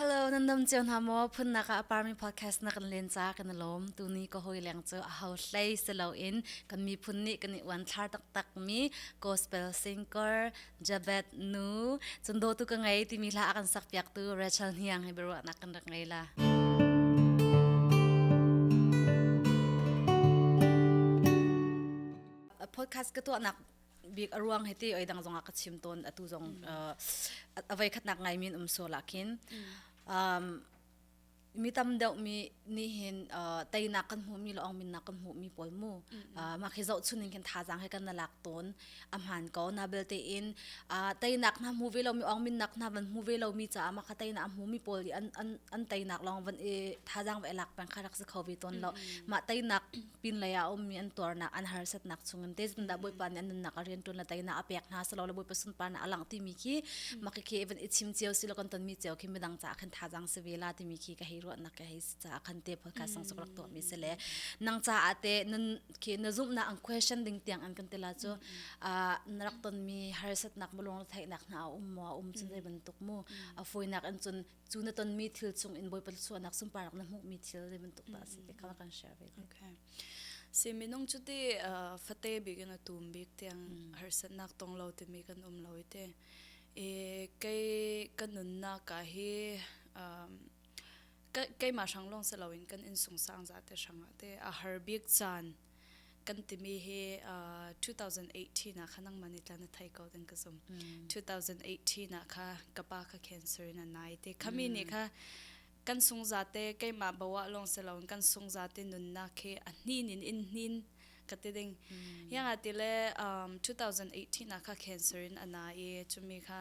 Hello, nan dam cio hna maw phunnak ah parmi podcast na kan len ca kan lawm tuni ka hoi leng cu a ho hlei si loin kan miphun nih kan i uan thlar taktak mi gospel singer Jabet Nu chun do tu ka ngei timi hla a kan sak piak tu Rachel Hniang he biruah nak kan rak ngei la podcast ka tuah nak bik aruang heti oi dang zong ah ka chim tawn atu zong avei khatnak ngai min um so la khin um mi tam deuh mi ni hin teinak kan hmu mi long min na kan hmu mi pol mu ma khi zo chun in khin tha jang he kan na lak ton amhan ko na belte in teinak na hmu ve lo mi ong min nak na van hmu ve lo mi cha ma kha teinak hmu mi pol an an an teinak long van e tha jang ve lak pang kha rak se kho ve ton lo ma teinak pinlei ah ummi an tuarnak an harsatnak chungin tezbandah bawipa nih an nunnak a rian ṭuan le teinak a pek hna silo le bawipa sunparnak a langh timi khi maki khi even i chim cio silo kan tonmi cio khi midang caah khan thazang si vela timi khi ka hei ruahnak ka hei caah khan te podcast sang suk rak tuah mi se le nang caah te nun khi na zumhnak an question ding tiang an kan tela cu na rak tonmi harsatnak mulung theihnak hna a um mo a um cun zei bantuk mu a foinak in cun cu na tonmi thil chungin bawipa suanak sunparak na hmuhmi thil zei bantuk dah si ti kha kan share ve okay si minung cu ti fate bigin a tum bik tiang harsatnak tong lo timi kan um lo ite e kei kan nunnak ka hi keima hrang long se loin kan in sungsang za te hrang te a har bik chan kan timi hi uh, 2018 ah kha nangman i tlan thai ko den ka zum 2018 ah kha ka pa kha cancer in anai te khami ni kha kan sung zate keima bawa long se long kan sung zate nunna khe ahnin in in hnin kate ding yang ati le um 2018 ah kha cancer in ana i chumi kha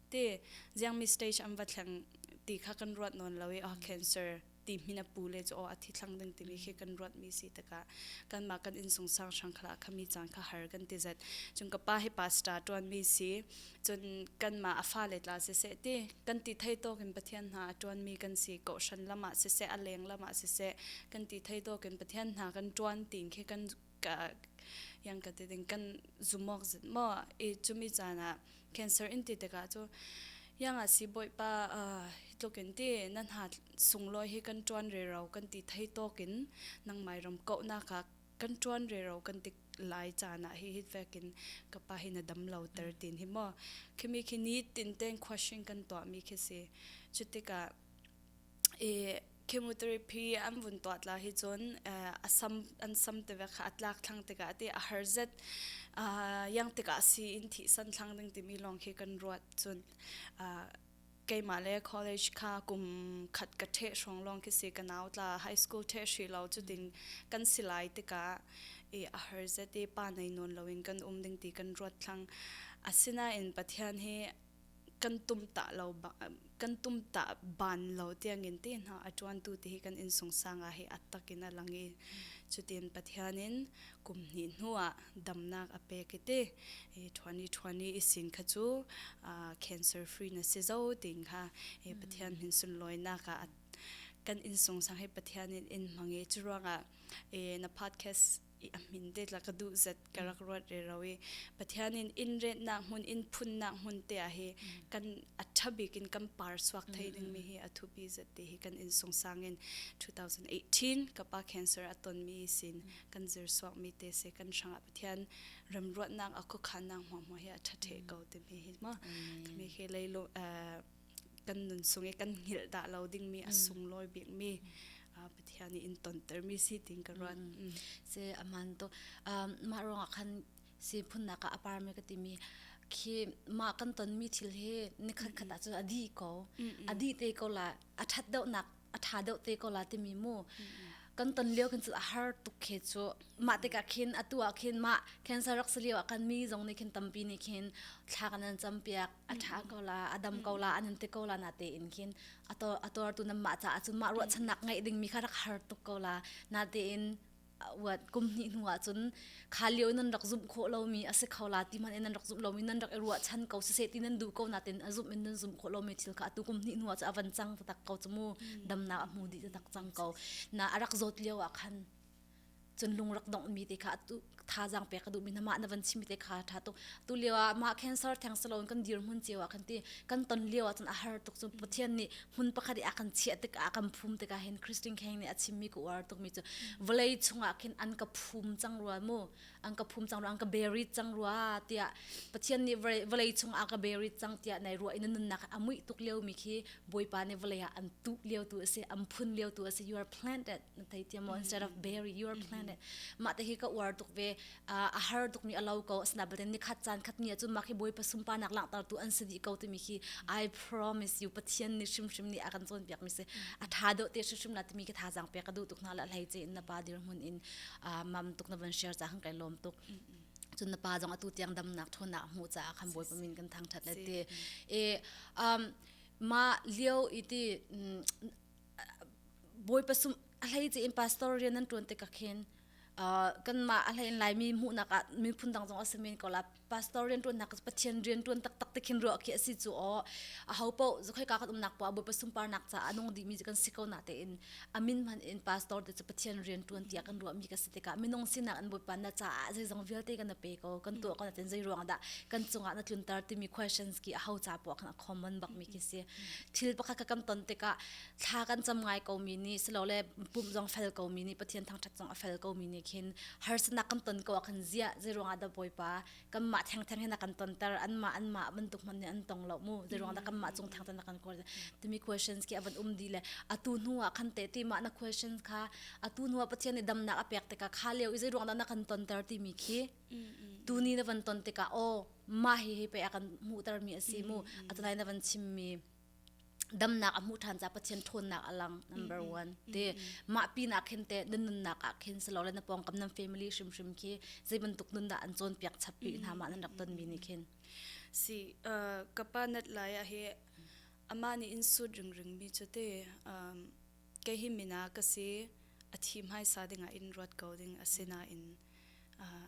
te jiangmi stage am va thleng ti kha kan ruat nawn lo i oh cancer ti min a pu le chu oh a thi thlang ding timi khi kan ruat mi si taka kan ma kan insung sang sang khala khami chan kha har kan ti zat chung ka pa hi pasta tuan mi si chun kan ma a fa le tla se se ti kan ti thai to kin pathian hna tuan mi kan si ko shan lama se se a leng lama se se kan ti thai to kin pathian hna kan tuan tin khi kan ka yang ka ti ding kan zumok zit mo e chumi chana cancer in ti taka chu yang a si boi pa tlukin ti nan ha sunglo hi kan tuan re ro kan ti thei tokin nang mai rom ko na ka kan tuan re ro kan ti lai chana hi hit vekin ka pa hi na damlo ter tin hi mo khimi khi ni tin ten question kan to mi khi si chutika e Chemotherapy an vun tuah tla hi cun a sam an sam te ve kha a tlak thlang tikah ti a har zet yang tikah si in thi san thlang ding timi lawng khi kan ruat cun keimah le college kha kum khat ka ṭhe hrawng lawng khi si ka nau tla high school ṭhe hri lo cu ding kan silai tikah i a har zet i pa nei nawn loin kan um ding ti kan ruat thlang asinain Pathian hi kan tumtah lo kan tumtah ban lo tiangin tehna a ṭuantu te hi kan innsungsang ah hi attak in a lang i cutin Pathian in kum hnih hnuah damnak a pek i ti i ṭhuani ṭhuani i sin kha cu cancer free na si zo ting kha i Pathian min sunlawinak ah kan innsungsang hi Pathian in in hmang i curuangah na podcast i a min te la ka duh zat ka rak ruat re ro i pathian in in retnak hmun in phunnak hmun te ah hi kan aṭha bik in kan par suak thei ding mi hi a thupi zat te hi kan in sungsang in 2018 ka pa cancer a ton mi sin kan zir suak mi te se kan hrang ah pathian ram ruatnak a khukhannak hmuahmuah hi a ṭha ṭhe ko ti mi hi ma kami he lei lo kan nunsung i kan hngilh dah lo dingmi a mm. sunglawi bikmi uh, Pathian i in tontermi si ting ka ruan. Mm, mm. Se aman to um, ma ruang khan si phunna ka aparme ka timi khi ma kan tonmi thil he nikhat khat a chu adi ko adi te ko la athat deuh nak a tha deuh te ko la timi mu kan ton lio kan chu a har tuk khe chu ma te ka khin atu a khin ma cancer rak saliu a kan mi zong ni khin tampi ni khin thla kan an cham piak a tha ko la adam ko la anan te ko la na te in khin ator ator tu nam ma cha chu ma ru chan nak ngai ding mi kha rak har tuk ko la na te in wat kum hnih hnu ah cun kha lio nan rak zumh khawh lomi a si kho la ti man in nan rak zumh lomi nan rak i ruah chan ko sese ti nan du ko na tin a zumh in nan zumh khawh lomi thil kha atu kum hnih hnu ah cu avan cang ta tak ko chu mu dam na a hmu di ta tak cang ko na arak zawt lio ah khan cun lung rak dong mi te kha tu thazang pe ka du mi na ma na van chimi te kha tha to tu lewa ma cancer thang salon kan dir mun chewa kan ti kan ton lewa cun a har tuk chu pathian ni hmun pakhat i a kan chiah tikah kan phum tikah hin Christine Kheng nih a chimmi ka uar tukmi cu vawlei chungah khin an ka phum cang rua mu an ka phum cang rua an ka berit cang rua tiah Pathian nih vawlei chungah ka berit cang tiah nai ruah in nunnak a muih tuk liomi khi bawipa nih vawlei ah an tuh lio tu a si an phun lio tu a si you are planted na thei tiam instead of bury you are planted mah te hi ka uar tuk ve a har tuk ni alo ko asna baten ni khat chan khat ni chu maki boi pasum pa nak lang tar tu an sini ko timi khi i promise you pathian ni shim shim ni akan chon piak mi se atha do te shim la timi ki tha jang pe ka du tuk na la hlai che na pa dir mun in mam tuk na van share cha hang kai lom tuk chun na pa jong atu tiang dam nak thon na mu cha kham boi pamin kan thang that le te e um ma liu iti boi pasum ahlai che in pastor rian nan tuan te ka khen kanmah a hlein laimi hmuhnak ah miphun dang zong a simin ko la pastor rian tuan nak pathian rian tuan tak tak tikhin ruah khi asi chu o a ho po zokhoi ka kan umnak pa bu pasum parnak ca anung di mi kan si ko na te in amin man in pastor te chu pathian rian tuan tia kan ruah mi ka si tika minung sinak an bu pan na ca a zai zong vialte kan pe ko kan tu ko na ten zai ruang da kan chunga na tlun tar ti mi questions ki a ho ca po kan a common bak mi ki si thil pakhat ka kam ton tika thla kan cam ngai ko mi ni silole pum zong fel ko mi ni pathian thangthat zong a fel ko mi ni khin harsanak kan ton ko khin zia zeruang ah da boipa kan ma theng theng hin kan ton ter an ma an ma bantuk man ne an tong lo mu zeruang da kan ma chung thang tan kan kor timi questions ki avan um di le atu hnu a khan te ti ma na questions kha atu hnu pathian ni damnak a pek tika kha leo i zeruang da na kan ton ter ti mi khi tu ni na van ton tika o ma hi hi pe akan mu ter mi asi mu atanai na van chim mi damnak a hmuh ṭhan ca Pathian ṭhawnnak a lang number mm-hmm. one ti mm-hmm. mah pinah khin te nan nunnak ah khin selo le na pawngkam nan family hrimhrim khi zei bantuk nun dah an cawn piak chap pi mm-hmm. hna ma nan rak ton mi ni khin si uh, ka pa nat lai a he ama ni in sut ring ring mi chu te um, ke hi mina ka si a thi mai sa ding in ruat ko ding asina in uh,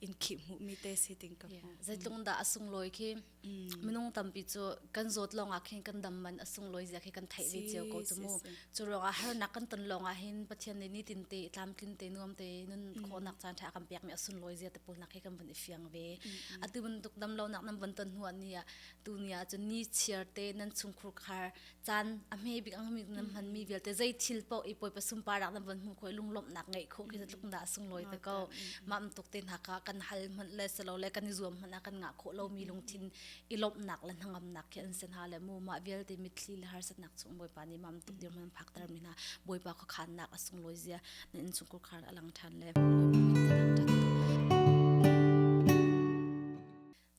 in khi mu mi te si ting ka mu zeitlung da asung loi khi minung tampi chu kan zot long a khin kan dam man asung loi zia khi kan thai ve chiao ko chu mu chu long a har nak kan ton long a hin pathian ne ni tin te tlam tlin te nuam te nun kho nak chan tha kan pek mi asun loi zia te pul nak khi kan bun ifiang ve atu bun tuk dam lo nak nam ban ton huwa ni a tu ni a chu ni chiar te nan chung khur khar caan a hme bik ang mi nan hman mi vialte zei thil po i poi pasum pa rak nan von hmu khoi lunglawmh nak ngei kho khi tluk da sunglawi ta ko mam tuk te na ka kan hal hman le selo le kan i zuam hman a kan nga kho lo mi lungthin i lomh nak le hnangam nak khi an sen ha le mu ma vialte mitthli le har sat nak chung boi pa ni mam tuk dir man phak tar mi na boi pa kho khan nak a sunglawi zia na in sungkur khar alang than le mi ta thang than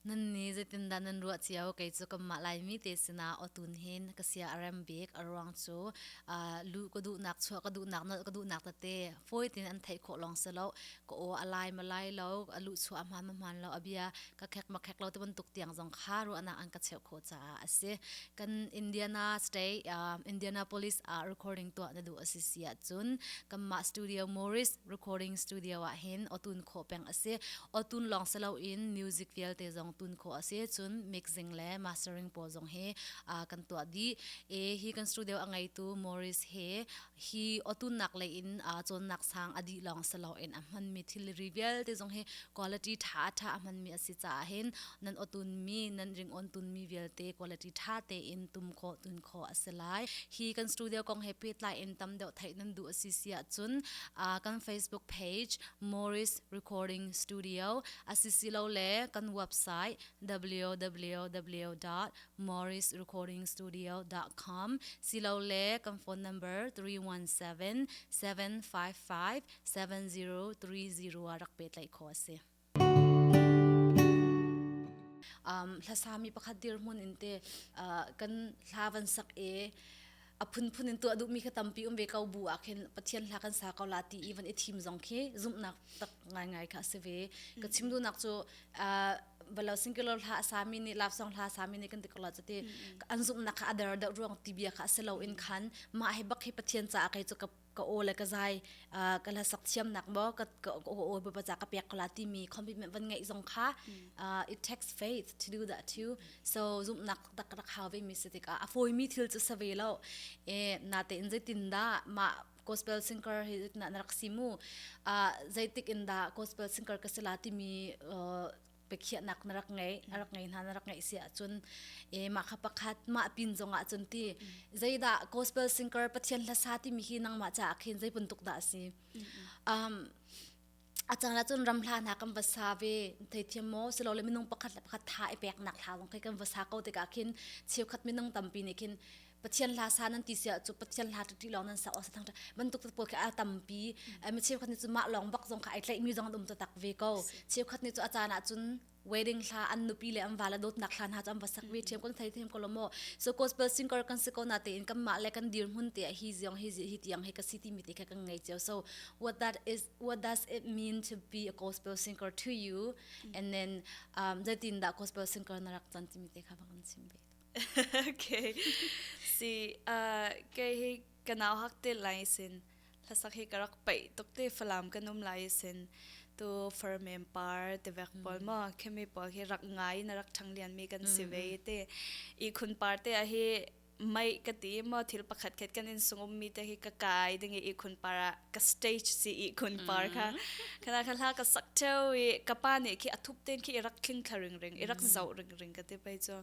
nan ni zeitindah nan ruah cio kei cu kanmah laimi te sinah otun hin ka sia a rem bik a ruang cu lu ka duhnak chuah ka duhnak nal ka duhnak tate fawi tin an theih khawh long se lo ka o a lai ma lai lo a lu chuah hman ma hman lo a bia ka khek ma khek lo te bantuk tiang zong kha ruahnak an ka cheu kho ca a si kan Indiana state Indianapolis a recording to na du a si sia cun kanmah studio Morris recording studio ah hin otun kho peng asi otun long selo in music vialte zong tun kho asi cun mixing le mastering pawl zong hi kan tuah di e hi kan studio angaitu Morris he hi otun nak le in chon nak sang adi long selo in a hman mi thilri vialte zong hi quality tha tha a hman mi asi ca hin nan otun mi nan ring on tun mi vialte quality tha te in tum kho tun kho si lai hi kan studio kong he pehtlai in tam deuh theih nan du asi si ah cun kan facebook page Morris Recording Studio asi si lo le kan website www.morrisrecordingstudio.com si lo le kan phone number 317 755 7030 a rak pe tlai kho asi Um, hlasa mi pakhat dirhmun in te uh, kan hla van sak e a phunphun in tuah duh mi kha tampi um ve ko bu ah khin pathian hla kan sa ko la ti even i thim zong khi zumnak tak ngai ngai kha se ve ka chim du nak chu uh, balo singular hla sami ni love song hla sami ni kan tikala chate an zumna kha adar da ruang tibia kha selo in khan ma he bak hi pathian cha kai chu ka ka aw le ka zai ka la sak thiam nak mo ka ka aw ba za ka pek kola ti mi commitment van ngai zong kha it takes faith to do that too so zum nak tak rak haw ve mi se tik a foi mi thil chu save lo e na te in zetin da ma gospel singer hi na rak simu a zeitik in da gospel singer ka sila ti mi biakhiahnak na rak ngei a rak ngei hna na rak ngeih si ahcun e mah kha pakhat mah pin zong ah cun ti zeidah gospel singer pathian hlasa timi hi nangmah ca ah khin zei puntuk dah si um a cang la cun ram hla hna kan va sa ve thei thiam mo silo le minung pakhat le pakhat tha e pek nak hla zong kai kan va sa ko tikah khin cheukhat minung tampi nih khin pathian hla sa nan ti sia chu pathian hla tu ti long nan sa o thang bantuk to pol ka atampi ma cheu khat ni chu ma long bak zong ka ai tlai mi zong dum to tak ve ko cheu khat ni chu achana chun wedding hla an nupi le am vala dot nak hlan ha cham basak ve them kon thai them ko lomo so gospel singer kan se ko na te in kam ma le kan dir hun te hi ziong hi hi tiang he ka city mi te ka kan ngai cheu so what that is what does it mean to be a gospel singer to you and then um zatin da gospel singer na rak chan ti mi te kha bang sim be okay si uh ke hi kanau hak te lai sin hlasak hi karak pai tok te falam kanum lai sin tu ferment par te vek pol ma khemi pol hi rak ngai na rak thang lian mi kan si ve te i khun par te a hi mai ka ti ma thil pakhat khet kan in sungum mi te hi ka kai dingi i khun para ka stage si i khun par kha khana kha la ka sak theu i ka pa ne khi athup ten khi i rak thling thla ring ring i rak zau ring ring ka te pai cho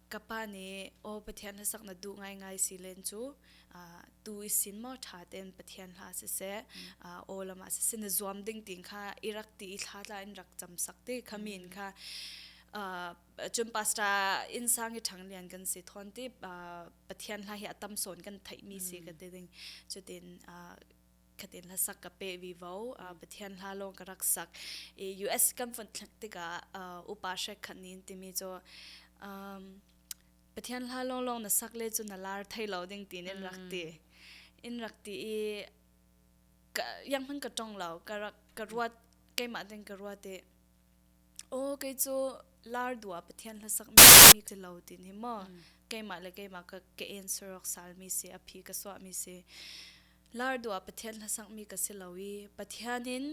ka pa nih aw pathian hlasak na duh ngaingai si len cu tu i sin maw ṭha tein pathian hla siseh aw lam ah siseh na zuam ding ting kha i rak ti i thla tla in rak cam sak ti khami in kha cun pastor inn sang i ṭhang lian kan si thawn ti pathian hla hi a tam sawn kan theihmi si ka ti ding cutin khatin hlasak ka pe vi vo uh, pathian hla lo ka rak sak i US kan fun thlak tika uh, upa she khan nin timi cho um pathian hla long long na sak le chu na lar thai lo ding tin in rak ti in rak ti i ka yang hun ka tong lo ka rak ka ruat ke ma ding ka ruat e o ke chu lar dua pathian hla sak mi timi ke lo tin hi mo ke ma le ke ma ka ke answer ok sal mi se aphi ka so mi se Lardua Pathian hlasangmi ka si lo i Pathian in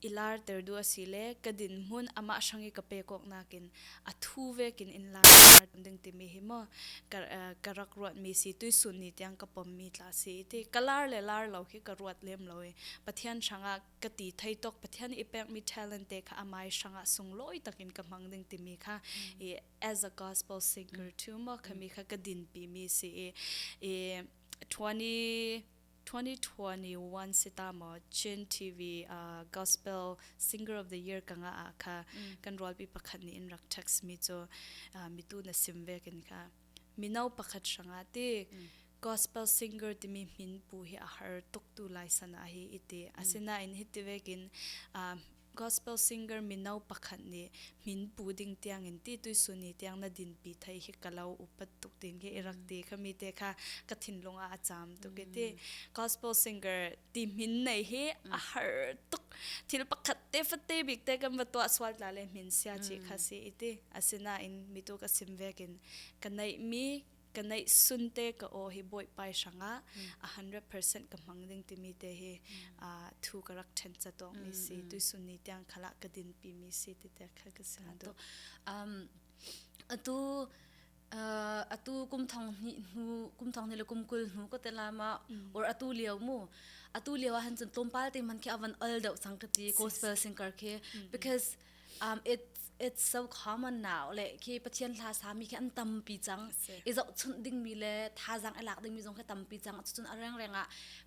i larter du a si le ka dinhmun amah hrang i ka pekawk nakin a thu vekin in lar in lar kan ding timi hi maw ka ka rak ruatmi si tuisun ni tiang ka pommi tla si ti ka lar le lar lo hi ka ruat lem lo i Pathian hrangah ka ti thei tok Pathian i pekmi talent te kha amai hrangah sunglawi takin ka hmang ding timi kha i as a gospel singer tu maw kami kha ka dinpimi si i i 2021 sita mo Chin TV uh, Gospel Singer of the Year kanga a kha kan rolpi pakhat ni in rak text mi cho mi tu na sim ve kin kha minau pakhat sanga ti gospel singer ti mi min pu hi a har tuk tu lai sana hi iti asina in hi ti ve kin Gospel singer mino pakhat nih Min Pu ding tiangin ti tuisuni tiang na dinpi thai hi ka lo upat tuk tin ke i rak ti khami te kha ka thinlung ah a caam tuk i ti gospel singer ti min nei hi a har tuk thil pakhat te fatte bik te kan va tuah sual ta le min sia chi kha si i ti asinain mitu ka sim vekin ka neih mi ka neihsun te ka o hi boi pai hrangah a 100% ka hmang ding timi te hi thu ka rak ṭhen cha tawk mi si tu sunni tiang khala ka din pi mi si ti te khal ka si tu atu atu kum thong ni hnu kum thong ni le kum kul hnu ko te lama or atu lieu mu atu lieu han chun tlom pal te man khi avan al dau sang ka ti gospel singer khi because um it it's so common now le khi pathian hla sami khi an tampi cang i zoh chun ding mi le thazang alak ding mi zong khi tampi cang cucun areng renga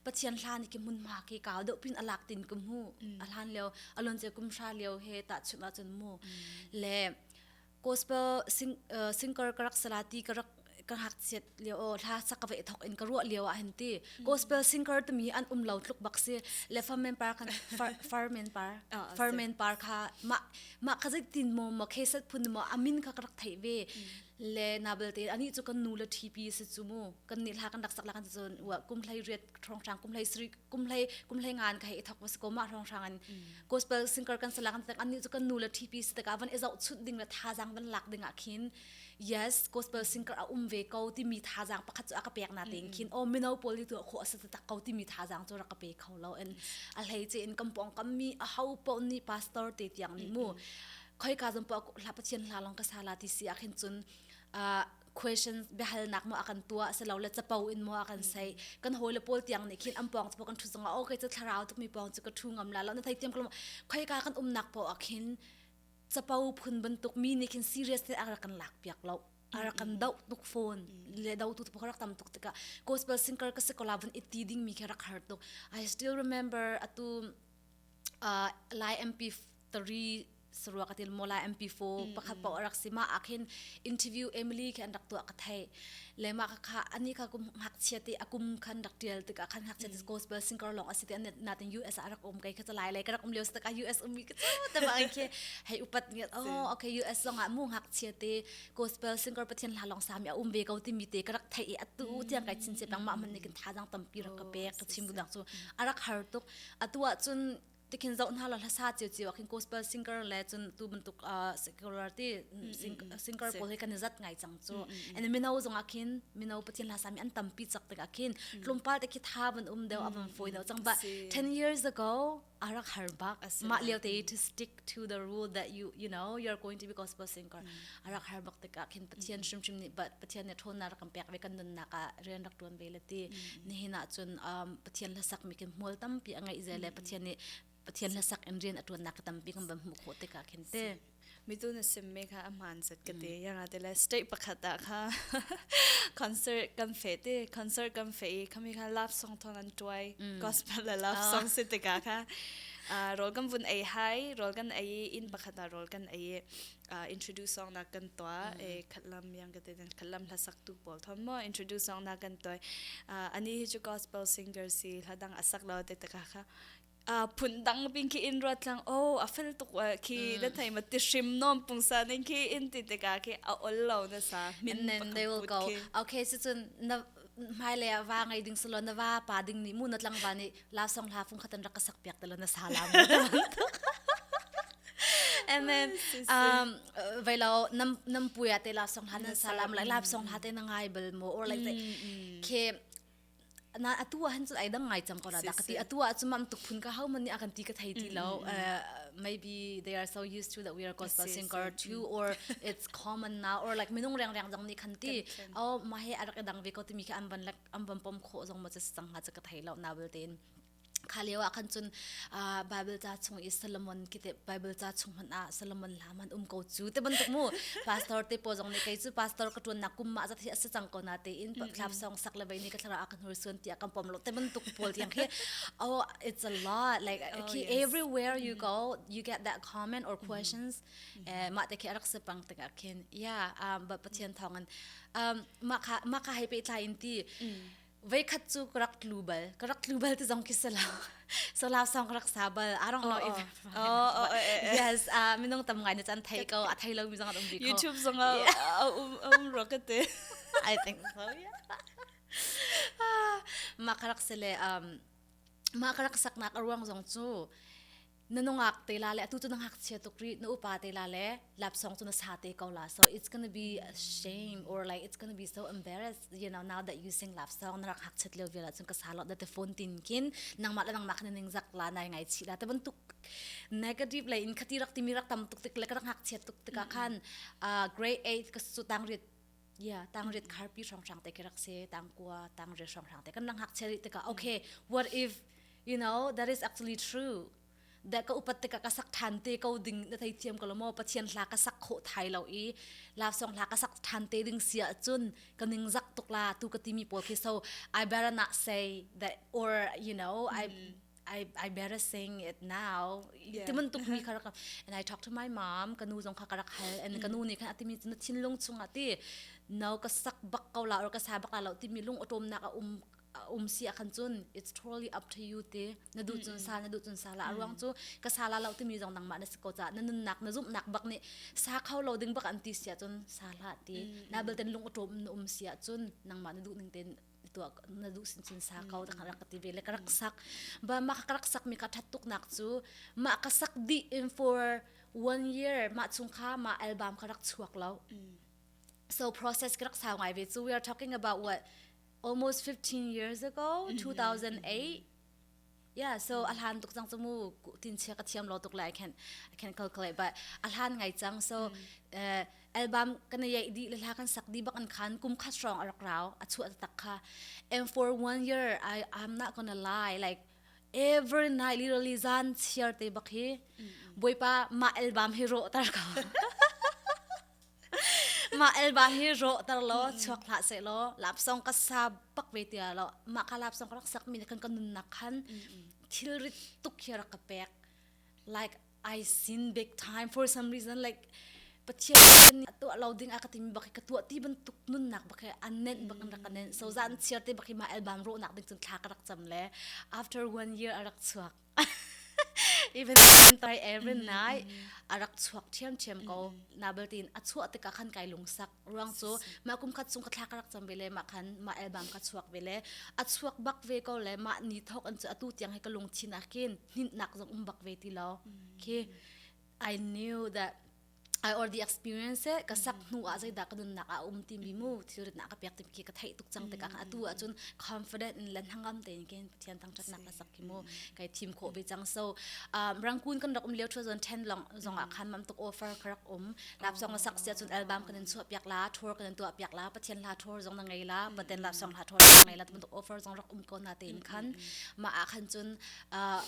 pathian hla ni ki munma ki kaw deuh pin alak tin ku mu alhan leo alon che kum sha leo he ta chun a chun mu le gospel sing, uh, singer karak salati karak ka ngakchiat lio o hla sak ve thok in ka ruah lio a hen ti gospel singer tumi an um lo tluk bak si le farmen par kan farmen par farmen par kha ma ma kha zai tin mo mo khe sat phun mo amin kha ka rak thei ve le na bel te ani chu kan nu le tp se chu mu kan ni hla kan rak sak la kan zon wa kum hlai riat thong sang kum hlai sri kum hlai kum hlai ngan kha e thok was ko ma thong sang an gospel singer kan sala kan tang ani chu kan nu le tp se ta ka van e zau chut ding le tha jang van lak ding a khin yes gospel singer a um ve ko timi thazaang pakhat cu a ka pek na tein mm. khin o mino pawl hi tu kho asa tak ko timi thazaang cu ra ka pe kho lo en a hlei che in kampong kam mi a hau pon ni pastor te tiang ni mu khoi ka zam pa hla pathian hla long ka sala ti si a khin chun uh, questions behal nak mo akan tua se lo le chapo in mo akan sei kan hole pol tiang ne khin ampong chu kan thu zonga o ke chu thlarau tu mi pong chu ka thu ngam la lo na thai tiam ko khoi ka kan um nak po akhin capo phun bantuk mi nih khin serious ne a rak kan lak piak lo ara kan do tuk phone le do tu tu rak tam tuk tika gospel singer ka se kola bun itti ding mi ke rak har tuk i still remember atu uh, lai mp3 sarua katil mola mp4 pakhat pa rak sima akhin interview emily ke an rak tu akathai le ma kha ani kha kum ngakchia ti akum khan rak tial tik khan ngakchia ti gospel singer long asi ti na tin US a rak um kai kha lai lai ka rak um leo tak a US um mi ka ta ba ke hei upat ni oh okay US long a mu ngakchia ti gospel singer pathian la long sami a um ve ko ti mi te ka rak thai atu tiang kai chin se pang ma man ni kin tha dang tam pi rak ka pe ka chim dang chu arak har tuk atu a chun tikhin zoh hna la hlasa chiu chiu akhin gospel singer le chun tu bantuk uh, secular ti singer pawl hi kan zat ngai chang chu and mino zong akhin mino pathin hlasa mi an tampi chak tak akhin tlumpal te khi tha ban um deu avan foi deu chang ba 10 years ago arak har bak ma liu te to stick to the rule that you you know you're going to be gospel singer a rak har bak tikah khin Pathian hrimhrim nih Pathian nih ṭhawnnak rak kan pek ve kan nunnak ah rian rak ṭuan ve le ti nihin ah cun Pathian hlasak mi khin hmual tampi a ngeih ze le Pathian nih Pathian hlasak in rian a ṭuannak ka tampi kan van hmuh khawh tikah khin te mitu na sim me kha a hmaan zat ka te yanga te le state pakhat ah kha concert kan fe te concert kan fe i khami kha love song thon an tuai gospel la love song se tika kha rol kan vun ei hai rol kan ei in pakhat a rol kan ei uh, introduce ong na kan to e khatlam yang ka te khatlam hla sak tu pol thon mo introduce ong na kan to uh, ani hi chu gospel singer si hla dang asak lo te taka kha uh, phun dang pin ki in ruat lang o a fel tuk wa ki na thai ma ti shim nom pung sa ning ki in ti te ka ki a ol lo na sa min they will go okay so chun na hmailei ah va ngei ding salon na va pa ding nih mu na tlangva nih lau song hla fung khatan rak ka sak piak talo na sa la mu amen um vai lo nam nam pu ya te lau song hla na sa la mu like lau song hla te na ngai bal mo or like te ke na atu han chu ai dang ngai chang ko la da ka ti atu a chumam tuk phun ka hau man ni akan ti ka thai ti lo maybe they are so used to that we are gospel singer too or it's common now or like minung reng reng dang ni khan ti oh ma he arak dang ve ko ti mi kha an ban like an ban pom kho zong ma cha sang ha cha ka thai lo na will tin khaliwa khan chun bible cha chung i solomon kite bible cha chung man a solomon la man um ko chu te ban mu pastor te po jong ne kai chu pastor ka tun na kum ma za thi asa chang ko na te in tlap song sak le bai ni ka thara a kan hur sun tia kam pom lo te ban tuk pol tiang hi oh it's a lot like oh, everywhere you go you get that comment or questions mah te khi arak se pang tak ah khin ya ba pathian thong an mah kha mah kha hai pe tlai in ti vei khat chu karak tlu bal karak tlu bal ti zong khi sala sola song rak sa bal arong lo if oh yes minung tam ngai na chan thai ko a thai lo mi zong um bi ko youtube zong um rocket i think so yeah ma karak sele um ma karak saknak ruang zong chu na nungak te la le atu cu na ngakchia tuk ri na upa te la le lapsong cu na sa te ko la so it's going to be a shame or like it's going to be so embarrassed you know now that you sing lapsong na rak hak chet leo vela cun ka sa lo da te phone tin kin nangma le nangma khne ning zak la nai ngai chi la te ban tuk negative le in khati rak timi rak tam tuk tik le ka rak hak chet tuk tika khan uh, grade 8 ka su tang ri ya tang rit khar pi shong shang te ke rak se tang kwa tang rit shong shang te kan lang hak cheri te ka okay what if you know that is actually true da ka upat te ka ka sak than te ko ding na thai thiam ko lomo pathian hla ka sak kho thai lo i la song hla ka sak than te ding sia chun ka ning zak tuk la tu ka timi pol khi so i better not say that or you know i I, I better sing it now. Yeah. Ti mun tuk mi kha rak and I talk to my mom ka nu zong kha ka rak hal and ka nu nih khan ati mi cu thinlung chung ati no ka sak bak ko la or ka sa bak la lo ti mi lung atom nak a um um si a khan cun it's totally up to you ti na du cun sa na du cun sa la ruang cu ka sa la lo ti mi zong nang ma na si ko ca na nun nak na zum nak bak ni sa kho lo ding bak an ti sia cun sa la ti na bel ten lung atom na um sia cun nang ma na du ning ten tua na duh sin cun sa kau ta kan rak ti ve le ka rak sak ba ma ka rak sak mi ka that tuk nak cu ma ka sak di in for one year ma chung kha ma album ka rak chuak lo so process ka rak sau ngai ve so we are talking about what almost 15 years ago 2008 Yeah, so a hlan tuk cang cu mu tin che ka thiam lo tuk la I can I can calculate but a hlan ngai cang so uh, album kan ye di le la kan sak di bak an khan kum kha strong a rak rao a chu tak kha and for one year I I'm not gonna lie like every night literally zan chiar te bak hi boy pa ma album hi ro tar ka Mah elba hi rawhter law chuak hlah seh law lapsong ka sa bak ve tia law mah ka lapsong ka rak sak mi kan ka nunnak khan thilrit tuk hi rak ka pek like I sin big time for some reason like Pathian nih kan tuah lo ding a ka timi bak ka tuah ti bantuk nunnak bak an nenh bak an rak nenh so zan chiar te bak ma elbam rawhnak ding cun thla ka rak cam le after one year a rak chuak even santai erin nai arak chuak thiam thiam ko na beltin a chuah tika khan kai lungsak ruang chu ma kum khat chung ka thla karak cham bele ma khan ma album ka chuak bele a chuak bak ve ko le ma ni thok an chu atu tiang he ka lung thin a kin nit nak zong um bak ve ti lo khi I knew that I or the experience e ka sak hnu ah zeidah ka nunnak ah a um timi mu thilrit na ka pek timi khi ka theih tuk cang tikah atu ahcun confident in lan hangam te ni ken pathian thangthat nak ka sak ki mu kai thim kho ve cang so um, rangkun kan rak um leo 2010 long zong ah khan mam tuk offer ka rak um lap song sak sia cun album kan in chuah piak la tour kan in tuah piak la pathian la tour zong na ngei la paten lap song la tour zong na ngei la tum tuk offer zong rak um ko na te in khan ma a khan cun uh,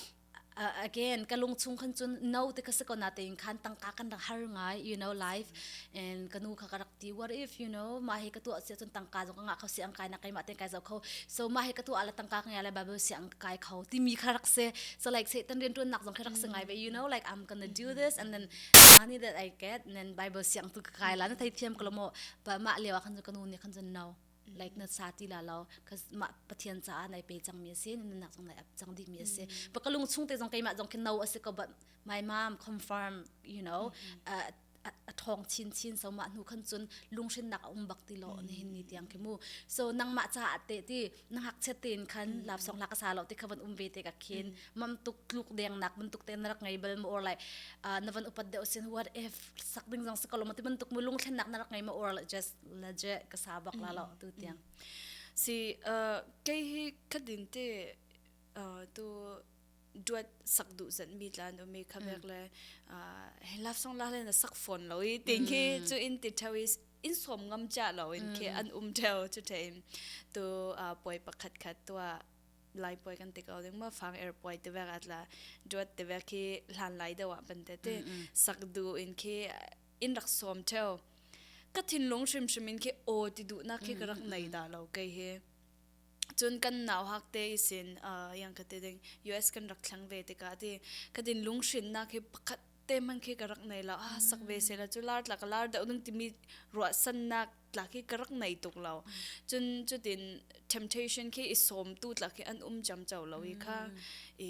uh, again ka lungchung khan chun no te ka se ko na te in khan tangka kan rak har ngai you know life and kanu kha ka rak ti what if you know ma he ka tu sia chun tangka zong nga kho si ang kai na kai ma ten kai zo kho so ma he ka tu ala tangka ka ngala bible si ang kai kho ti mi kha rak se so like satan rin tun nak zong kha rak se ngai be you know like i'm gonna do this and then the money that i get and then bible si ang tu kai la na thai thiam ko mo but ma lewa khan kanu ni khan no like na sa ti la lo mah pathian caah nai pe cang mi si na nak zong nai ap cang dih mi si pa ka lung chung te zong keimah zong ke no a si ko but my mom confirm you know uh, a thong chin chin so ma nu khan chun lung shin nak um bak ti lo ni hin ni tiang ki mu so nang ma cha te ti nang hak chet tin khan lap song la ka sa lo ti khaban um ve te ka khin mam tuk tluk deng nak mun tuk ten rak ngai bel mo or like na van upat de osin what if sak ding jong se ko lo ma ti ban tuk mu lung thlen nak na rak ngai ma or just la je ka sa bak la lo tu tiang si uh, ke hi khatin te uh, tu duat sak du zan mi tlan do me khabek le he laf song la le na sak phone lo i ting hi chu in ti thawi in som ngam cha lo in ke an um theu chu thein tu poi pakhat khat tu lai poi kan te ko ding ma fang airport te vek atla duat te vek hi hlan lai da wa ban te te sak du in ke in rak som theo ka thinlung hrimhrim in khi aw ti duh na khi ka rak nei da lo kai he cun kan nau hak te isin uh, yang ka te ding US kan rak thlang ve te ka ti ka din lung shin na khi pakhat te man khi ka rak nei la a sak ve se la chu lar tla ka lar da nung timi ro san nak tla khi ka rak nei tuk lo cun chutin temptation khi i som tu tla khi an um cham chau lo i kha i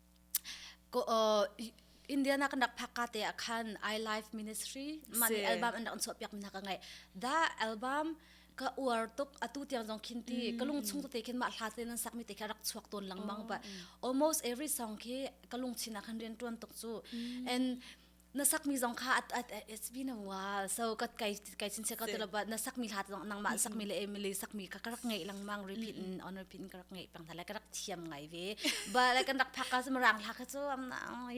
Indiana kan rak phakka te ah khan I Life Ministry man si. album an rak chuah piak mi hna ka ngai da album ka uar tuk atu tiang zong khin ti ka lung chung te khin mah hla te nan sak mi te kha rak chuak ton lang mang ba almost every song khi ka lung chin ah khan rian tuan tuk chu and na sakmi zong kha at, at, it's been a while so ka kai kai chin che ka telo ba na sakmi hlat zong nang ma sakmi le le sakmi ka karak ngei lang mang repeat in on repeat in karak ngei pang tha like karak thiam ngai ve but like kan rak phak ka marang hla ka chu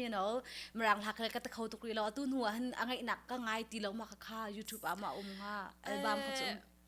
you know marang hla ka ta kho tukri lo atu nu han angai nak ka ngai ti lo ma ka kha youtube a ma um ha album ka chu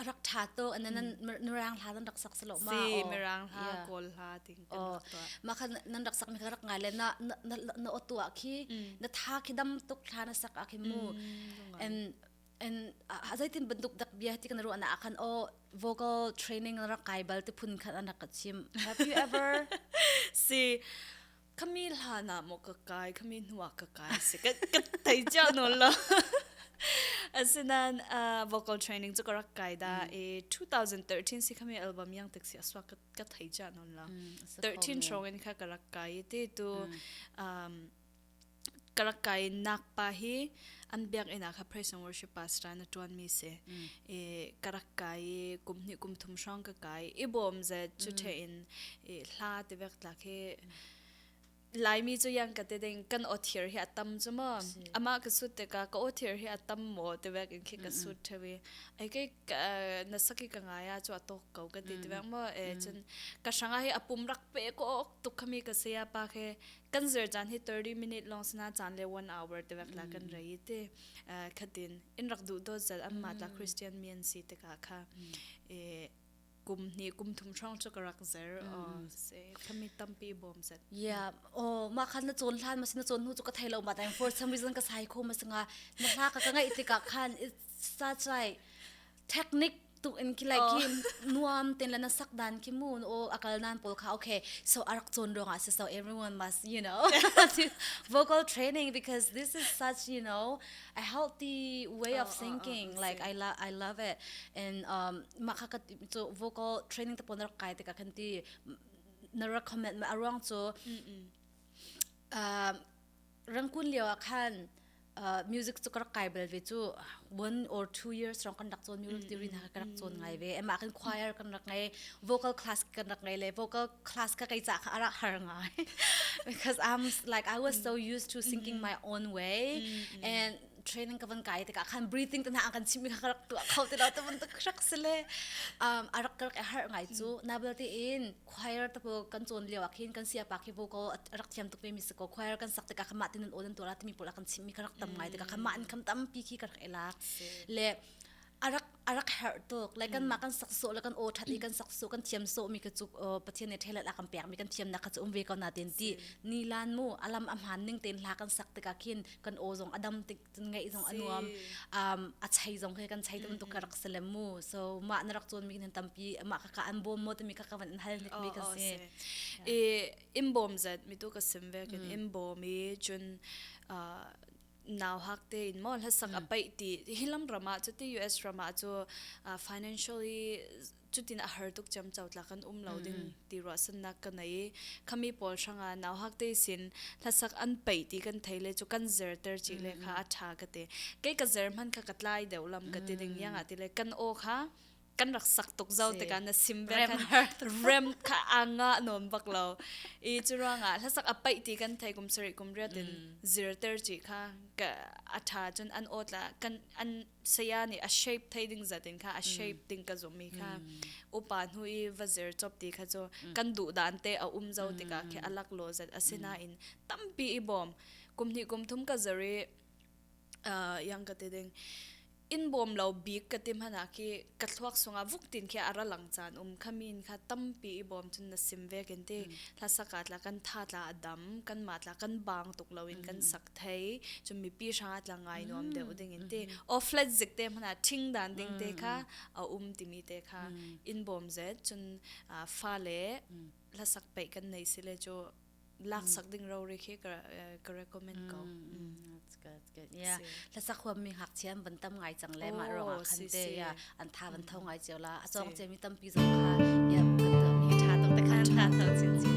arak tha to an nan mirang hla nan rak sak selo ma si mirang hla kawl hla ting kan rak to ma kha nan rak sak mi kha rak ngai le na na o tu khi na tha khi dam tuk hla na sak a khi mu and and azaitin banduk dak bia ti kan ru ana akhan o vocal training rak kai bal te phun khan an rak chim have you ever see khami hlan ah maw ka kai khami hnu ah ka kai si ka ka thei cia no lo asinain uh, vocal training chu ka rak kai da e 2013 si khami album yang tak si aswa ka ka thei cia no lo 13 trong in kha ka rak kai ti tu um ka rak kai nak pa hi an biakinn ah kha praise and worship pastor na tuan mi si e ka rak kai i kum hnih kum thum hrawng ka kai i bawm ze chu the in e hla te vek tla khi laimi chu yang ka te ding kan o thier hi atam chu mo ama ka sut te ka ka o thier hi atam mo te vek in khi ka sut the we ai ke na saki ka nga ya chu atok ko ka ti te vek mo e chen ka sanga hi apum rak pe ko tuk khami ka se ya pa khe kan zer caan hi 30 minute long sana caan le 1 hour te wek la kan rei te khatin in rak du do zal amma ta christian mi an si te ka kha e kum ni kum thum trong chu karak zer o se khami tampi bom sat ya o ma khan na chon hlan ma sin na chon nu chu ka thailo ma time for some reason ka sai kho ma singa na hla ka ka ngai tika khan it's such like technique tu in ki like ki nuam ten la na sak dan ki mu no akal nan pol kha okay so arak chon rong as so everyone must you know vocal training because this is such you know a healthy way of thinking like i love i love it and um makha ka so vocal training ta pon rak kai te ka khanti na recommend ma arong so um rangkun lio ah khan uh, music cu ka rak kai bal ve cu one or two years rong kan rak cawn music theory na ka rak cawn ngai ve emah kan choir kan rak ngai vocal class kan rak ngai le vocal class ka kai cha kha ara har ngai because i'm like i was so used to singing my own way and training ka van kai te ka khan breathing ta na an kan chimi kha rak tu kho te lo ta mun tak rak sele um arak ka rak har ngai chu na bel te in choir ta kan cawn lio ah khin kan siapa khi vo ko rak thiam tuk mi si ko choir kan sak tikah khamah tinan odan tura timi pola kan chim mi ka rak tam ngai tikah khamah an kham tampi khi ka rak elak le arak arak her tuk like kan ma kan sak so le kan o that i kan sak so kan thiam so mi ka chuk pathian ne thelat akam pek mi kan thiam na kha um ve ko na ten ti ni lan mu alam amhan ning ten la kan sak tika khin kan o zong adam tik cun ngaih zong a nuam um a chei zong khi kan chei tum tuk ka rak si le mu so ma na rak cun mi kan tampi ma ka ka an bawm mo te mi ka ka van an hal ni mi ka si e im bom zat mi tu ka sim ve kan im bom e chun naw hak te in mo la sak apai ti hi lam rama chu ti US rama chu financially cutin a har tuk cem co tlak an um lo ding ti ruahsannak ka nei khami pawl hranga nau hak te sin hlasak an pei ti kan thei le chu kan zerter chi le kha a tha ka te kei ka zer man kha ka tlai deuh lam ka ti ding yang ati le kan o kha kan rak sak tuk zo te kan sim ve kan rem kha anga non bak lo i churonga hlasak a pai ti kan thai kum sari kum riatin zir ter chi kha ka atha chun an otla kan an saya nih a shape thei ding zat in kha a shape ding ka zummi kha upa hnu i va zer chop ti kha chu kan duh dan te a um zo tikah khi alak lo zat asina in tampi i bom kum hnih kum thum ka zer i yang ka te ding in bom lo bik ka tim hana khi ka thluak sunga vuk tin khi ara lang chan um khamin kha tampi i bom chun na sim ve ken ti la saka tla kan tha tla dam kan ma tla kan bang tuk lo in kan sak thei chum mipi hrang atla ngai nuam deuh ding in te o flat zik te mana thing dan ding te kha a um timi te kha in bom zet chun fa le la sak pe kan nei sile cho lak sak ding ro ri khi ka ka recommend ko that's good good yeah la sak huam mi hak chian ban tam ngai chang le ma ro a khan te ya an tha ban thau ngai cheu la a chong che mi tam pi zong kha ya kan to mi tha to te khan tha to chin chin